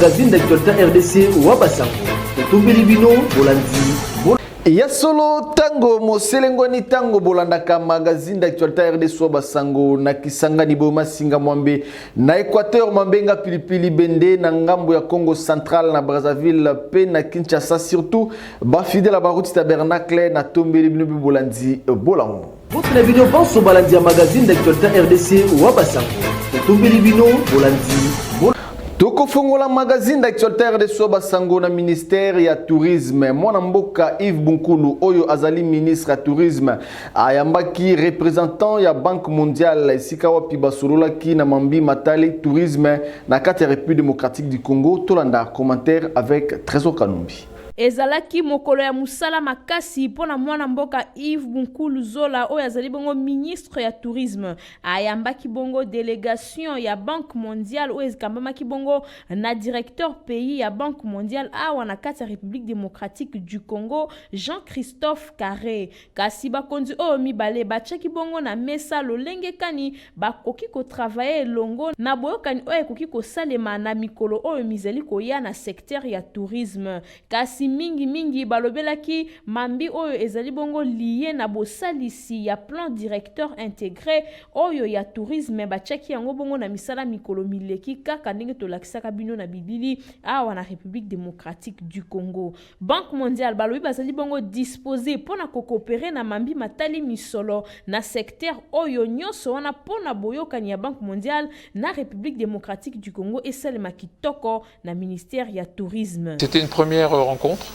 Magazine d'actualité RDC wa basango totumbeli bino bolandi ya solo ntango moselengwani ntango bolandaka magazine d'actualité rdso basango na kisangani boye masinga mwambe na équateur mambenga pilipili bende na ngambo ya congo central na brazzaville mpe na kinshasa surtout bafidele ya baruti tabernacle natombeli bino mpe bolandi bolamu Mbote na bino banso balandi ya magazine d'actualité rdc wa basango totombeli bino bolandi tokofongola magazine d'actualité rdc basango na ministère ya tourisme mwana mboka yves bunkulu oyo azali ministre ya tourisme ayambaki représentant ya banque mondiale esika wapi basololaki na mambi matali tourisme na kati ya république démocratique du congo tolanda commentaire avec trésor kanumbi Ezalaki mokolo ya mosala makasi mpo na mwana mboka Yves Bunkulu Zola oyo azali bongo ministre ya tourisme. Ayambaki bongo delegation ya Banque mondiale oyo ekambamaki bongo na directeur pays ya Banque mondiale awa na kati ya Republique democratique du Congo, Jean-Christophe Carre. Kasi bakonzi oyo mibale batyaki bongo na mesa lolenge kani bakoki kotravaye elongo na boyokani oyo ekoki kosalema na mikolo oyo mizali koya na secteur ya tourisme. Kasi mingi mingi balobelaki mambi oyo ezali bongo liye na bosalisi ya plan directeur integre oyo ya tourisme batyaki yango bongo na misala mikolo mileki kaka ndenge tolakisaka bino na bilili awa na Republique democratique du Congo. Banque mondiale balobi bazali bongo disposer mpo na ko cooperer na mambi matali misolo na secteur oyo, nionso wana mpo na boyokani ya Banque mondiale na Republique democratique du Congo esalema kitoko na ministère ya Tourisme. C'était une première rencontre.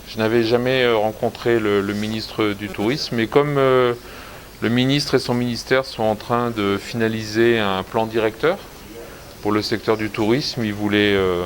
Je n'avais jamais rencontré le, le ministre du Tourisme, mais comme euh, le ministre et son ministère sont en train de finaliser un plan directeur pour le secteur du tourisme, il voulait euh,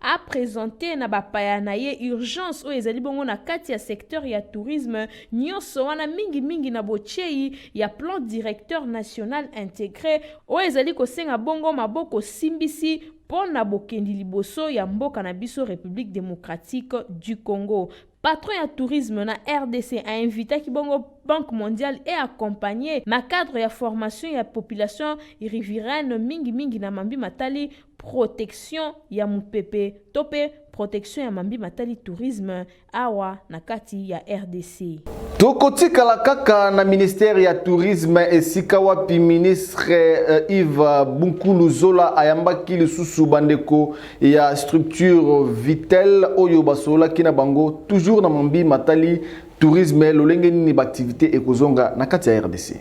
a presenter na bapaya na ye urgence oyo ezali bongo na kati ya secteur ya tourisme nyonso wana mingimingi na botyei ya plan directeur national integre oyo ezali kosenga bongo maboko simbisi mpo na bokendi liboso ya mboka na biso République démocratique du Congo. Patron ya tourisme na RDC a invitaki bongo Banque mondiale et accompagné na cadre ya formation ya population riveraine mingi mingi na mambi matali protection ya mupepe to mpe protection ya mambi matali tourisme awa na kati ya rdc. Tokotikala kaka na ministère ya tourisme esika wapi ministre euh, Yves Bunkulu Zola ayambaki lisusu bandeko ya structure Vitel oyo basololaki na bango toujours na mambi matali Tourisme, lolenge nini ba activités ekozonga na kati ya RDC?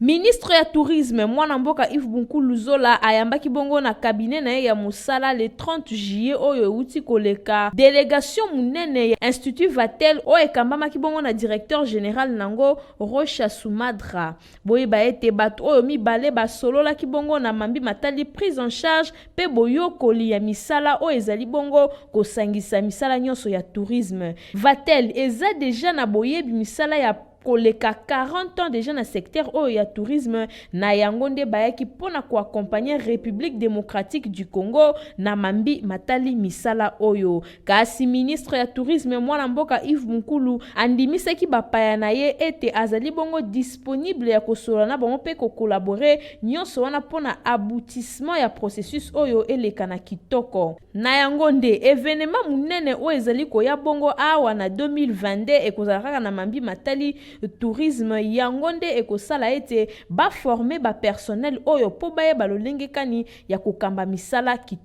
Ministre ya Tourisme, mwana mboka Yves Bunkulu Zola ayambaki bongo na cabinet na ye ya mosala le 30 juillet oyo euti koleka delegation munene ya Institut Vatel oyo ekambamaki bongo na directeur general nango Rocha Sumadra. Boyeba ete bato oyo mibale basololaki bongo na mambi matali prise en charge mpe boyokoli ya misala oyo ezali bongo kosangisa misala nyonso ya tourisme. Vatel eza dejà na boyebi misala ya koleka 40 ans dejà na secteur oyo ya tourisme, na yango nde bayaki mpo na ko accompagner Republique democratique du Congo na mambi matali misala oyo. Kasi ministre ya Tourisme mwana mboka Yves Mukulu andimisaki bapaya na ye ete azali bongo disponible ya kosolola na bango mpe ko collaborer, nyonso wana mpo na aboutissement ya processus oyo eleka na kitoko. Na yango nde, evenement monene oyo ezali koya bongo awa na 2022 ekozala kaka na mambi matali tourisme, yango nde ekosala ete ba former ba personnels oyo mpo bayeba lolenge kani ya kokamba misala kitoko.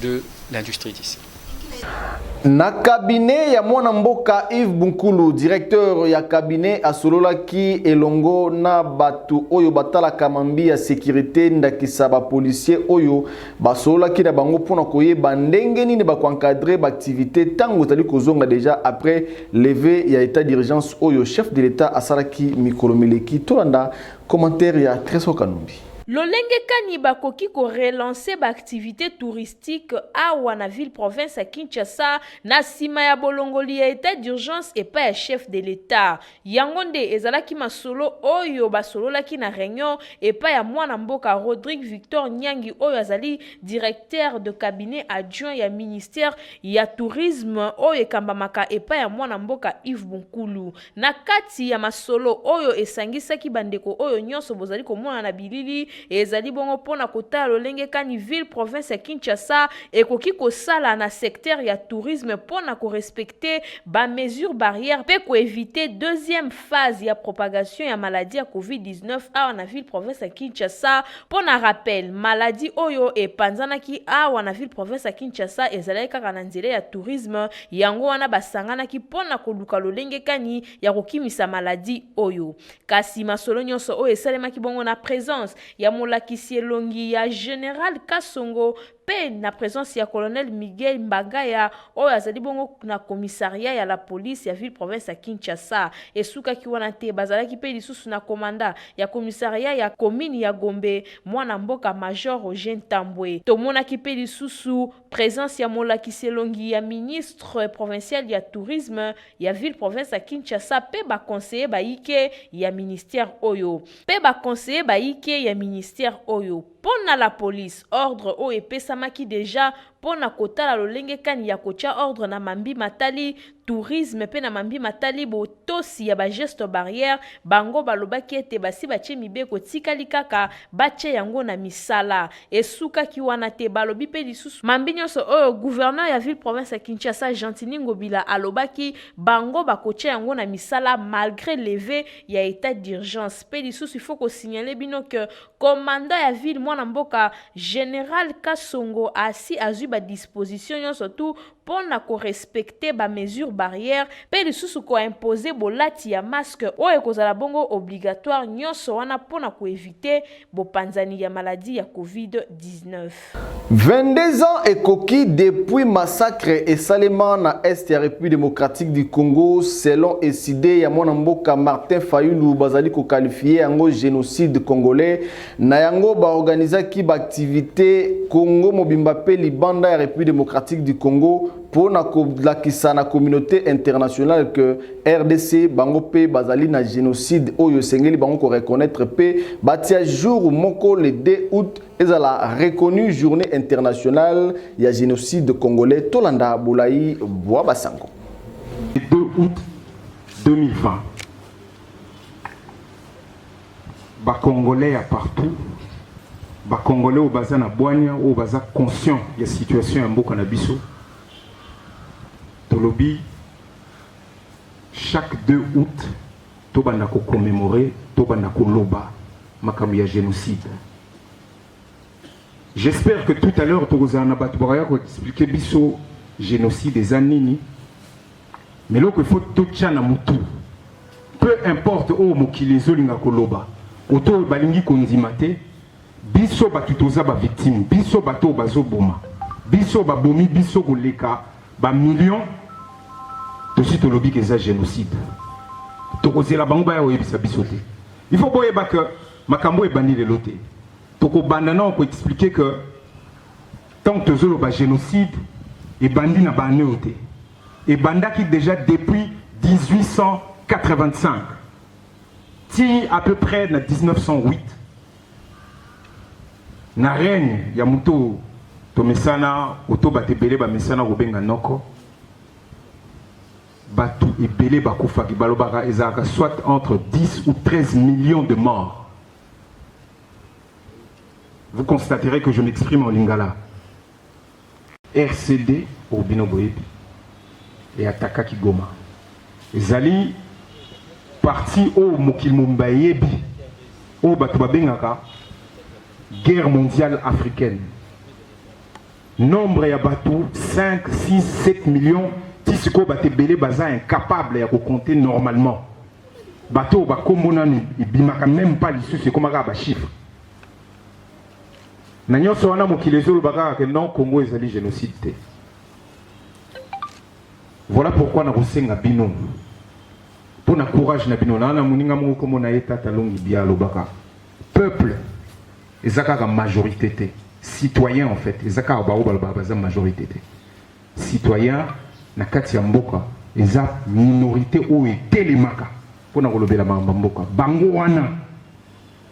de l'industrie d'ici. Na cabinet ya mwana mboka Yves Bunkulu, directeur ya cabinet asololaki elongo na bato oyo batalaka mambi ya securite ndakisa ba policiers oyo basololaki na bango mpo na koyeba ndenge nini bako encadrer ba activités ntango ezali kozonga deja après levee ya etat d'urgence oyo chef de l'etat asalaki mikolo mileki. Tolanda commentaire ya Tresor Kanumbi. Lolenge kani bakoki ko relancer ba activites touristiques awa na ville-province ya Kinshasa na sima ya bolongoli ya etat d'urgence epai ya chef de l'Etat? Yango nde ezalaki masolo oyo basololaki na reunion epai ya mwana mboka Rodrigue Victor Nyangi oyo azali Directeur de cabinet adjoint ya ministère ya Tourisme oyo ekambamaka epai ya mwana mboka Yves Bunkulu. Na kati ya masolo oyo esangisaki bandeko oyo nyonso bozali komona na bilili, ezali bongo mpo na kotala lolenge kani ville-province ya Kinshasa ekoki kosala na secteur ya tourisme mpo na ko respecter ba mesures barrières mpe ko eviter deuxième phase ya propagation ya maladie ya Covid-19 awa na ville-province ya Kinshasa. Mpo na rappel, maladie oyo epanzanaki awa na ville-province ya Kinshasa ezalaki kaka na nzela ya tourisme, Yango wana basanganaki mpo na koluka lolenge kani ya kokimisa maladi oyo. Kasi masolo nyonso oyo esalemaki bongo na presence ya molakisi elongi ya General Kasongo mpe na presence ya Colonel Miguel Mbagaya oyo azali bongo na commissariat ya la police ya ville province ya Kinshasa. Esukaki wana te, bazalaki mpe lisusu na commandant ya commissariat ya commune ya Gombe, mwana mboka Major Roger Ntambwe. Tomonaki mpe lisusu Presence ya molakisi elongi ya ministre provincial ya tourisme ya ville province ya Kinshasa mpe ba conseillers bayike ya ministère oyo mpe ba conseillers bayike ya ministère oyo mpo na la police. Ordre oyo epesamaki dejà mpo na kotala lolenge kani ya kotya ordre na mambi matali tourisme mpe na mambi matali botosi ya bageste barrière, bango balobaki ete basi batye mibeko etikali kaka batye yango na misala. Esukaki wana te, balobi mpe lisusu mambi nyonso oyo gouverneur ya ville province ya Kinshasa Gentiny Ngobila alobaki bango bakotya yango na misala malgre leve ya etat d'urgence. Mpe lisusu il faut kosignale bino que commandant ya ville mwana mboka general Kasongo asi azwi badisposition nyonso tout mpo na ko respecter ba mesures barrières mpe lisusu ko imposer bolati ya masque oyo ekozala bongo obligatoire, nyonso wana mpo na ko eviter bopanzani ya maladie ya Covid-19. 22 ans ekoki depuis massacre esalema na Est ya Republique democratique du Congo selon ecide ya mwana mboka Martin Fayulu bazali ko qualifier yango genocide congolais Na yango, ba organizaki ba activites Congo mobimba mpe libanda ya Republique democratique du Congo mpo na kolakisa na communaute internationale que rdc bango mpe bazali na genocide oyo esengeli bango ko reconnaitre mpe batia jour moko le 2 aout ezala reconnu journée internationale ya genocide congolais. Tolanda bolai bwa basango. Le 2 aout 2020 Ba Congolais ya partout, ba Congolais oyo baza na bwanya, oyo baza conscient ya situation ya mboka na biso, tolobi chaque 2 août tobanda ko commemorer, tobanda koloba makambo ya génocide. J'espère que tout à l'heure tokozala na bato bakoya ko expliquer biso génocide eza nini Mais loko il faut totya na mutu peu importe oyo mokili ezolinga koloba oto oyo balingi kondima te biso bato toza bavictime biso bato oyo bazoboma biso babomi biso koleka bamillion tosi tolobi ke eza génocide tokozela bango baya koyebisa biso te il faut boyeba ke makambo oyo ebandi lelo te tokobanda nao koexplike ke Tango tozoloba genocide ebandi na ba annee oyo te, ebandaki dejà depuis 1885 ti à peu près na 1908 na règne ya moto oyo tomesana oto bato ebele bamesana kobenga noko bato ebele bakufaki balobaka ezalaka soit entre 10 ou 13 millions de morts Vous constaterez que je m'exprime en lingala. RCD au bino boyebi et ataka Kigoma. Ezali parti au mokili mobimba eyebi oyo bato babengaka guerre mondiale africaine nombre ya bato 5 6 7 millions ti sikoyo bato ebele baza incapable ya kocompte normalement bato oyo bakombo nanu ebimaka meme pas lisusu ekoma kaka bachiffre na nyonso wana mokili ezoloba kaka ke non congo ezali génocide te voilà pourquoi nakosenga bino mpo na courage na bino naa na moninga moko nkombo na ye tata longi bia alobaka peuple eza kaka majorité te citoyen en fait eza kaka baoyo balobaka baza majorité te citoyen na kati ya mboka eza minorite oyo etelemaka mpo na kolobela makambo ya mboka. Bango wana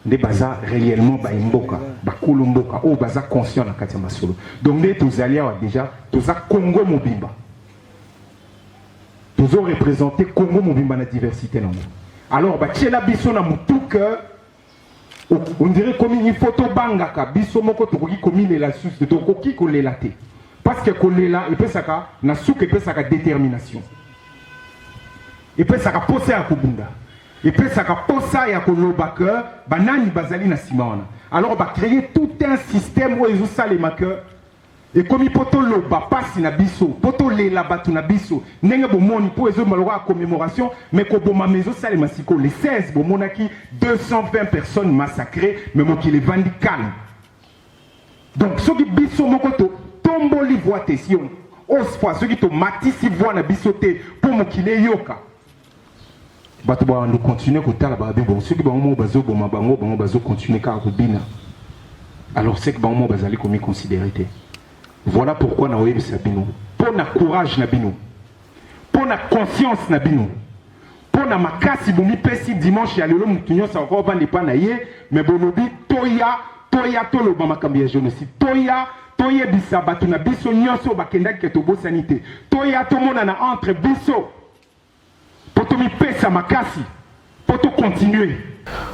nde baza réellement bayi mboka bakolo mboka oyo baza conscient na kati ya masolo. Donc nde tozali awa deja toza Congo mobimba tozo représenter Congo mobimba na diversité nango. Alors batiela biso na motuka on dirait komi il faut tobangaka biso moko tokoki komilela lisusu te tokoki kolela te parce que kolela epesaka na suka epesaka détermination epesaka mposa ya kobunda epesaka mposa ya koloba ke banani bazali na nsima wana alors bacreye tout un système oyo ezosalema ke Ekomi po toloba pasi na biso, po tolela batu na biso ndenge bomoni, po ezobima lokola commemoration mais kobomama ezosalema sikoyo le 16 bomonaki 220 personnes massacrees mais mokili evandi calme. Donc soki biso moko to tomboli voix te, sio oswa soki tomatisi voix na biso te po mokili eyoka, bato bawando continue kotala babe bongo soki bango moko bazoboma bango bango bazocontinue kaka kobina alors seke bango moko bazali komiconsidere te voilà pourquoi nakoyebisa bino mpo na courage na bino mpo na conscience na bino mpo na makasi bomipesi dimanche ya lelo moto nyonso akoki obanda epai na ye me bolobi toya toya toloba makambo ya genocide toya toyebisa bato na biso nyonso bakendaki ke tobosani te toya tomonana entre biso Poto mipesa makasi, poto continuer.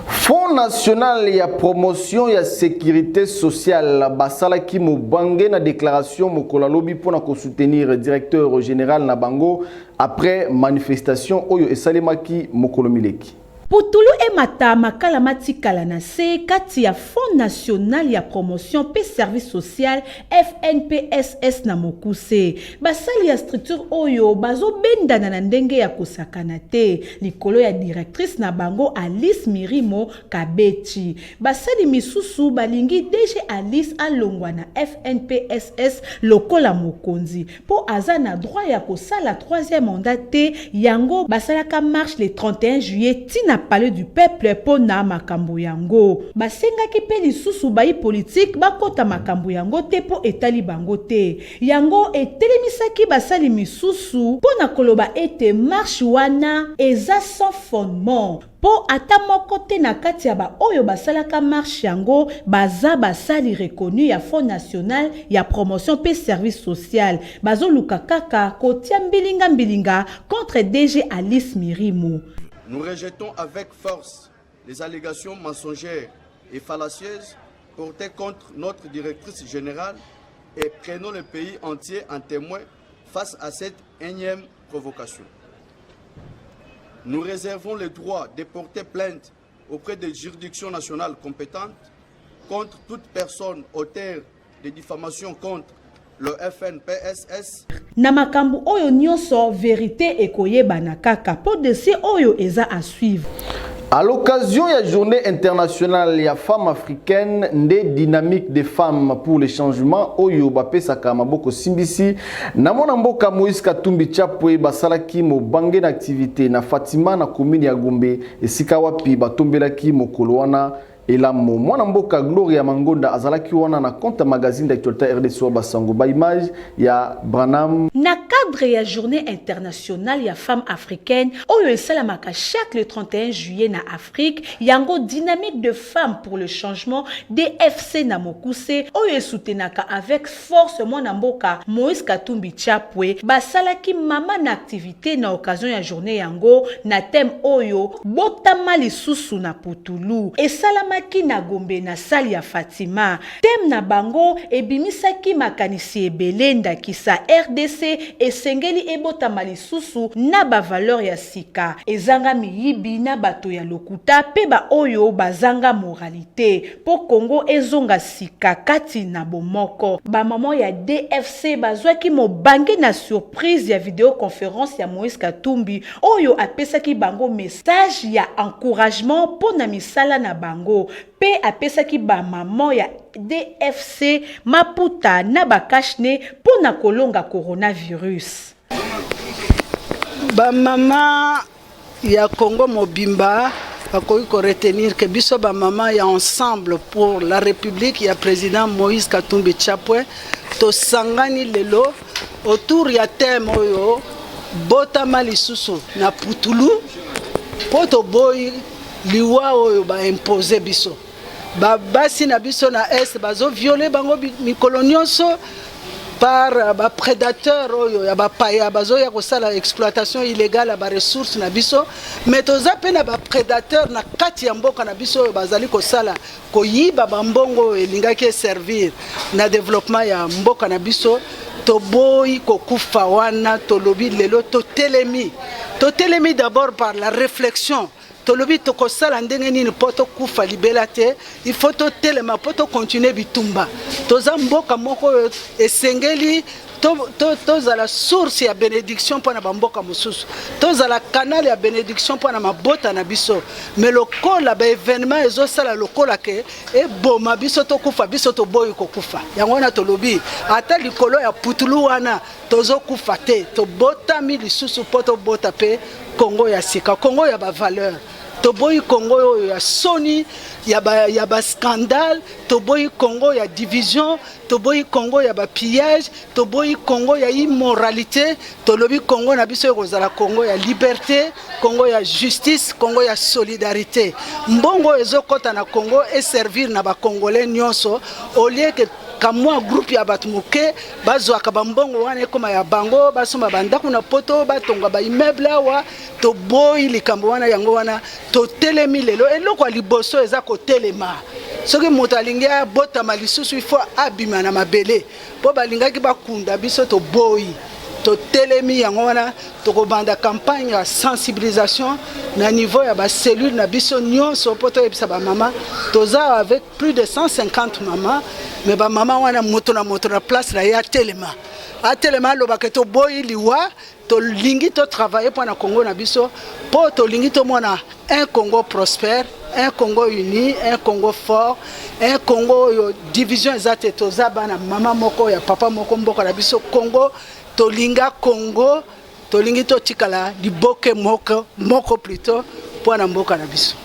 Fonds national ya promotion ya securite sociale basalaki mobange na declaration mokolo ya lobi mpo na kosoutenir directeur general na bango après manifestation oyo esalemaki mokolo mileki. Putulu emata, makala matikala na se kati ya Fonds national ya promotion mpe service social, FNPSS, na mokuse. Basali ya structure oyo bazobendana na ndenge ya kosakana te likolo ya directrice na bango Alice Mirimo Kabechi. Basali misusu balingi DG Alice alongwa na FNPSS lokola mokonzi. po aza na droit ya kosala troisième mandat te yango basalaka marche le 31 juillet ti na palais du peuple po na makambo yango basengaki pe lisusu bayi politique bakota makambo yango te po etali bango te yango etelemisaki basali misusu po na koloba ete marche wana eza sans fondement Mpo ata moko te na kati ya baoyo basalaka marche yango baza basali reconnus ya Fonds national ya promotion mpe service social. Bazoluka kaka kotia mbilinga mbilinga contre DG Alice Mirimu. Nous rejetons avec force les allegations mensongères et fallacieuses portee contre notre Directrice generale et prenons le pays entier en temoin Face à cette énième provocation, nous réservons le droit de porter plainte auprès des juridictions nationales compétentes contre toute personne auteur de diffamation contre le FNPSS. Na makambo oyo nyoso verite ekoyebana kaka po dossier oyo eza à suivre. A l'occasion ya journee internationale ya femme africaine nde dynamique des femmes pour le changement oyo bapesaka maboko simbisi na mwana mboka Moïse Katumbi Chapwe basalaki mobange na activite na Fatima na commune ya Gombe esika wapi batombelaki mokolo wana Elamo, mwana mboka Gloria Mangonda azalaki wana na compte ya magazine d'actualité RDC Basango ba image ya Branham. Na cadre ya journée internationale ya femme africaine oyo esalamaka chaque le 31 juillet na Afrique, yango Dynamique de femmes pour le changement, DFC na mokuse, oyo esoutenaka avec Force mwana mboka Moïse Katumbi Chapwe basalaki mama na activite na occasion ya journee yango na thème oyo Botama lisusu na putulu. Esalamaki na Gombe na salle ya Fatima. Thème na bango ebimisaki makanisi ebele ndakisa rdc esengeli ebotama lisusu na ba valeurs ya sika, ezanga miyibi na bato ya lokuta mpe ba oyo bazanga moralite. mpo Congo ezonga sika kati na bomoko. Ba maman ya DFC bazwaki mobange na surprise ya video conference ya Moïse Katumbi oyo apesaki bango message ya encouragement mpo na misala na bango mpe apesaki ba maman ya DFC maputa na ba cache-nez mpo na kolonga coronavirus. Ba mama ya Congo mobimba bakoki ko retenir que biso ba mama ya ensemble pour la République ya président Moïse Katumbi Chapwe tosangani lelo autour ya thème oyo botama lisusu na putulu mpo toboyi liwa oyo ba impose biso Ba basi na biso na est bazo violer bango mikolo nyonso par euh, ba prédateurs oyo ya bapaya bazoya kosala exploitation illégale ya baressource na biso mais toza mpe na baprédateur na kati ya mboka na biso oyo bazali kosala koyiba bambongo oyo elingaki eservir na développement ya mboka na biso toboyi kokufa wana tolobi lelo totelemi totelemi d'abord par la réflexion Tolobi tokosala ndenge nini po tokufa libela te, il faut totelema po to continuer bitumba. Toza mboka moko oyo esengeli tozala source ya benediction mpo na bamboka mosusu tozala canal ya benediction mpo na mabota na biso me lokola baevenement ezosala lokola ke eboma biso tokufa biso toboyi kokufa yango wana tolobi ata likolo ya putulu wana Tozokufa te, tobotami lisusu mpo tobota mpe Congo ya sika, Congo ya ba valeur. Toboyi Congo oyo ya soni, ya ba, ya ba scandale, toboyi Congo ya division, toboyi Congo ya ba pillage, toboyi Congo ya immoralité, tolobi Congo na biso ekozala Congo ya liberté, Congo ya justice, Congo ya solidarité. Mbongo ezokota na Congo e servir na ba Congolais nyonso au lieu que kamwa groupe ya bato moke bazwaka bambongo wana ekoma ya bango basomba bandako na poto batonga baimmeuble awa toboyi likambo wana yango wana totelemi lelo eloko ya liboso eza kotelema soki moto alingi abotama lisusu ifo abima na mabele mpo balingaki bakunda biso toboyi totelemi yango wana tokobanda campagne ya sensibilisation na niveau ya bacellule na biso nyonso mpo toyebisa bamama toza avec plus de 150 mama me bamama wana moto na moto na place na ye atelema atelema alobaka toboyi liwa tolingi totravaille mpo na congo na biso mpo tolingi tomona un congo prospère un congo uni un congo fort un congo oyo division eza te toza bana mama moko ya papa moko mboka na biso congo tolinga congo Tolingi totikala liboke moko moko plutot mpo na mboka na biso.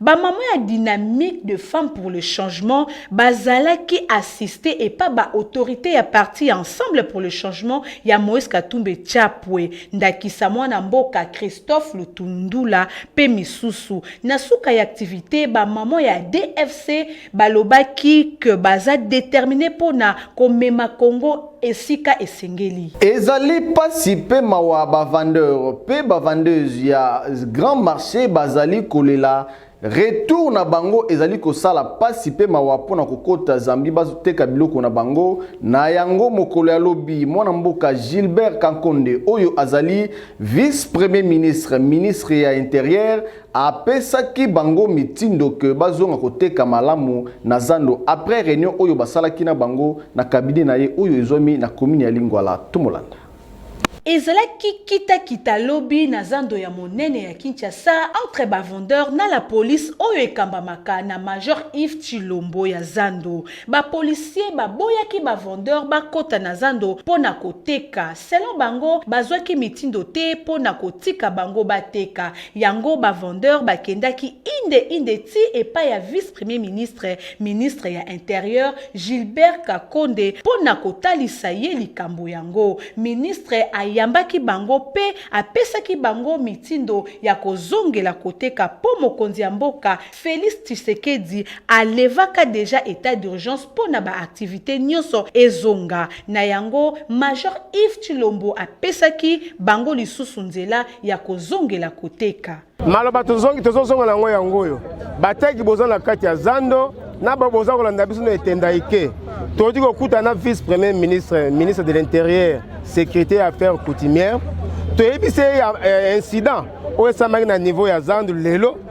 Ba mamans ya dynamique de femmes pour le changement bazalaki assister epa ba autorites ya parti ya Ensemble pour le changement ya Moise Katumbi Chapwe, ndakisa mwana mboka Christophe Lutundula mpe misusu. Na suka ya activite, ba mamans ya ADFC. Balobaki que baza determine mpo na komema Congo esika esengeli. Ezali pasi mpe mawa ba vendeurs mpe ba vendeuses ya grand marche bazali kolela Retour na bango ezali kosala pasi mpe mawa mpo na kokota Zambie bazoteka biloko na bango. Na yango mokolo ya lobi mwana mboka Gilbert Kankonde oyo azali vice-premier ministre, ministre ya interieur Apesaki bango mitindo que bazonga koteka malamu na zando après reunion oyo basalaki na bango na cabinet na ye oyo ezwami na commune ya Lingwala. Tomolanda. Ezalaki kita kita lobi na zando ya monene ya Kinshasa entre ba vendeurs na la police oyo ekambamaka na major Yves Tshilombo ya zando. Ba policiers baboyaki ba vendeurs bakota na zando mpo na koteka. Selon bango, bazwaki mitindo te mpo na kotika bango bateka. Yango ba vendeurs bakendaki inde inde ti epai ya vice Premier ministre, ministre ya Interieur, Gilbert Kakonde mpo na kotalisa ye likambo yango. Ministre ayambaki bango mpe apesaki bango mitindo ya kozongela koteka mpo mokonzi ya mboka Felix Tshisekedi a levaka dejà etat d'urgence mpo na ba activites nionso ezonga, na yango Major Yves Tshilombo apesaki bango lisusu nzela ya kozongela koteka. Maloba tozongi tozozonga na yango yango oyo, bateki boza na kati ya zando na ba boza kolanda biso na etenda ike tokoki kokuta na vice premier ministre ministre de l'intérieur sécurité ya affaire coutumière toyebisi ye ya eh, incident oyo esamaki na niveau ya zandu lelo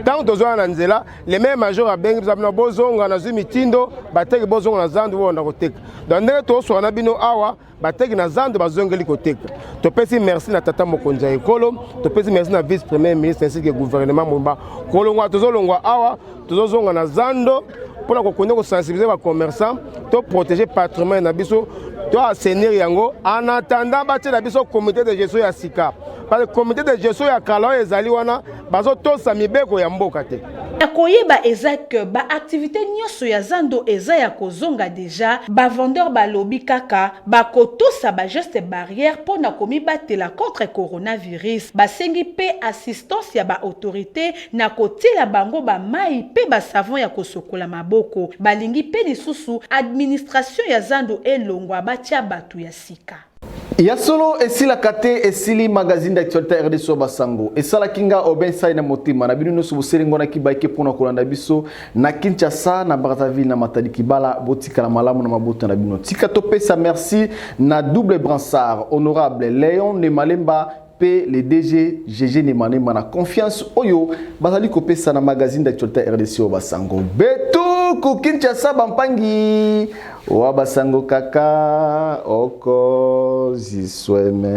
ntango tozwana na nzela le meme major abengi biso bino bozonga nazwi mitindo bateki bozonga na zando bobanda koteka donc ndenge toswana na bino awa bateki na zando bazongeli koteka topesi merci na tata mokonzi ya ekolo topesi merci na vice premier ministre ainsi que gouvernement mobimba kolongwa tozolongwa awa tozozonga na zando mpona kokonde kosensibilize bacommerçant toprotege patrimoine na biso to asenir yango en attendant batiela biso comité de gestion ya sika parce que comité de gestion ya kala oyo ezali wana bazotosa mibeko ya mboka te ya koyeba eza ke baaktivite nyonso ya zando eza ya kozonga deja bavendeur balobi kaka bakotosa bageste barrière mpo na komibatela contre coronavirus basengi mpe assistance ya baautorité na kotiela bango bamai mpe basavon ya kosokola maboko balingi mpe lisusu administration ya zando elongwa batya bato ya sika Ya solo esilaka te esili magazine d'actualité ya RDC ba sango esalaki nga Aubin Sai na motema na bino nyonso boselengonaki baike mpo na kolanda biso na Kinshasa na Brazzaville na Matadi Kibala botikala malamu na mabota na bino tika topesa merci na double bransard honorable Leon Nemalemba pe le DG Gege Nemanema na confiance oyo bazali kopesa na magazine d'actualité RDC oyo basango betu ku Kinshasa bampangi wa basango kaka oko zisweme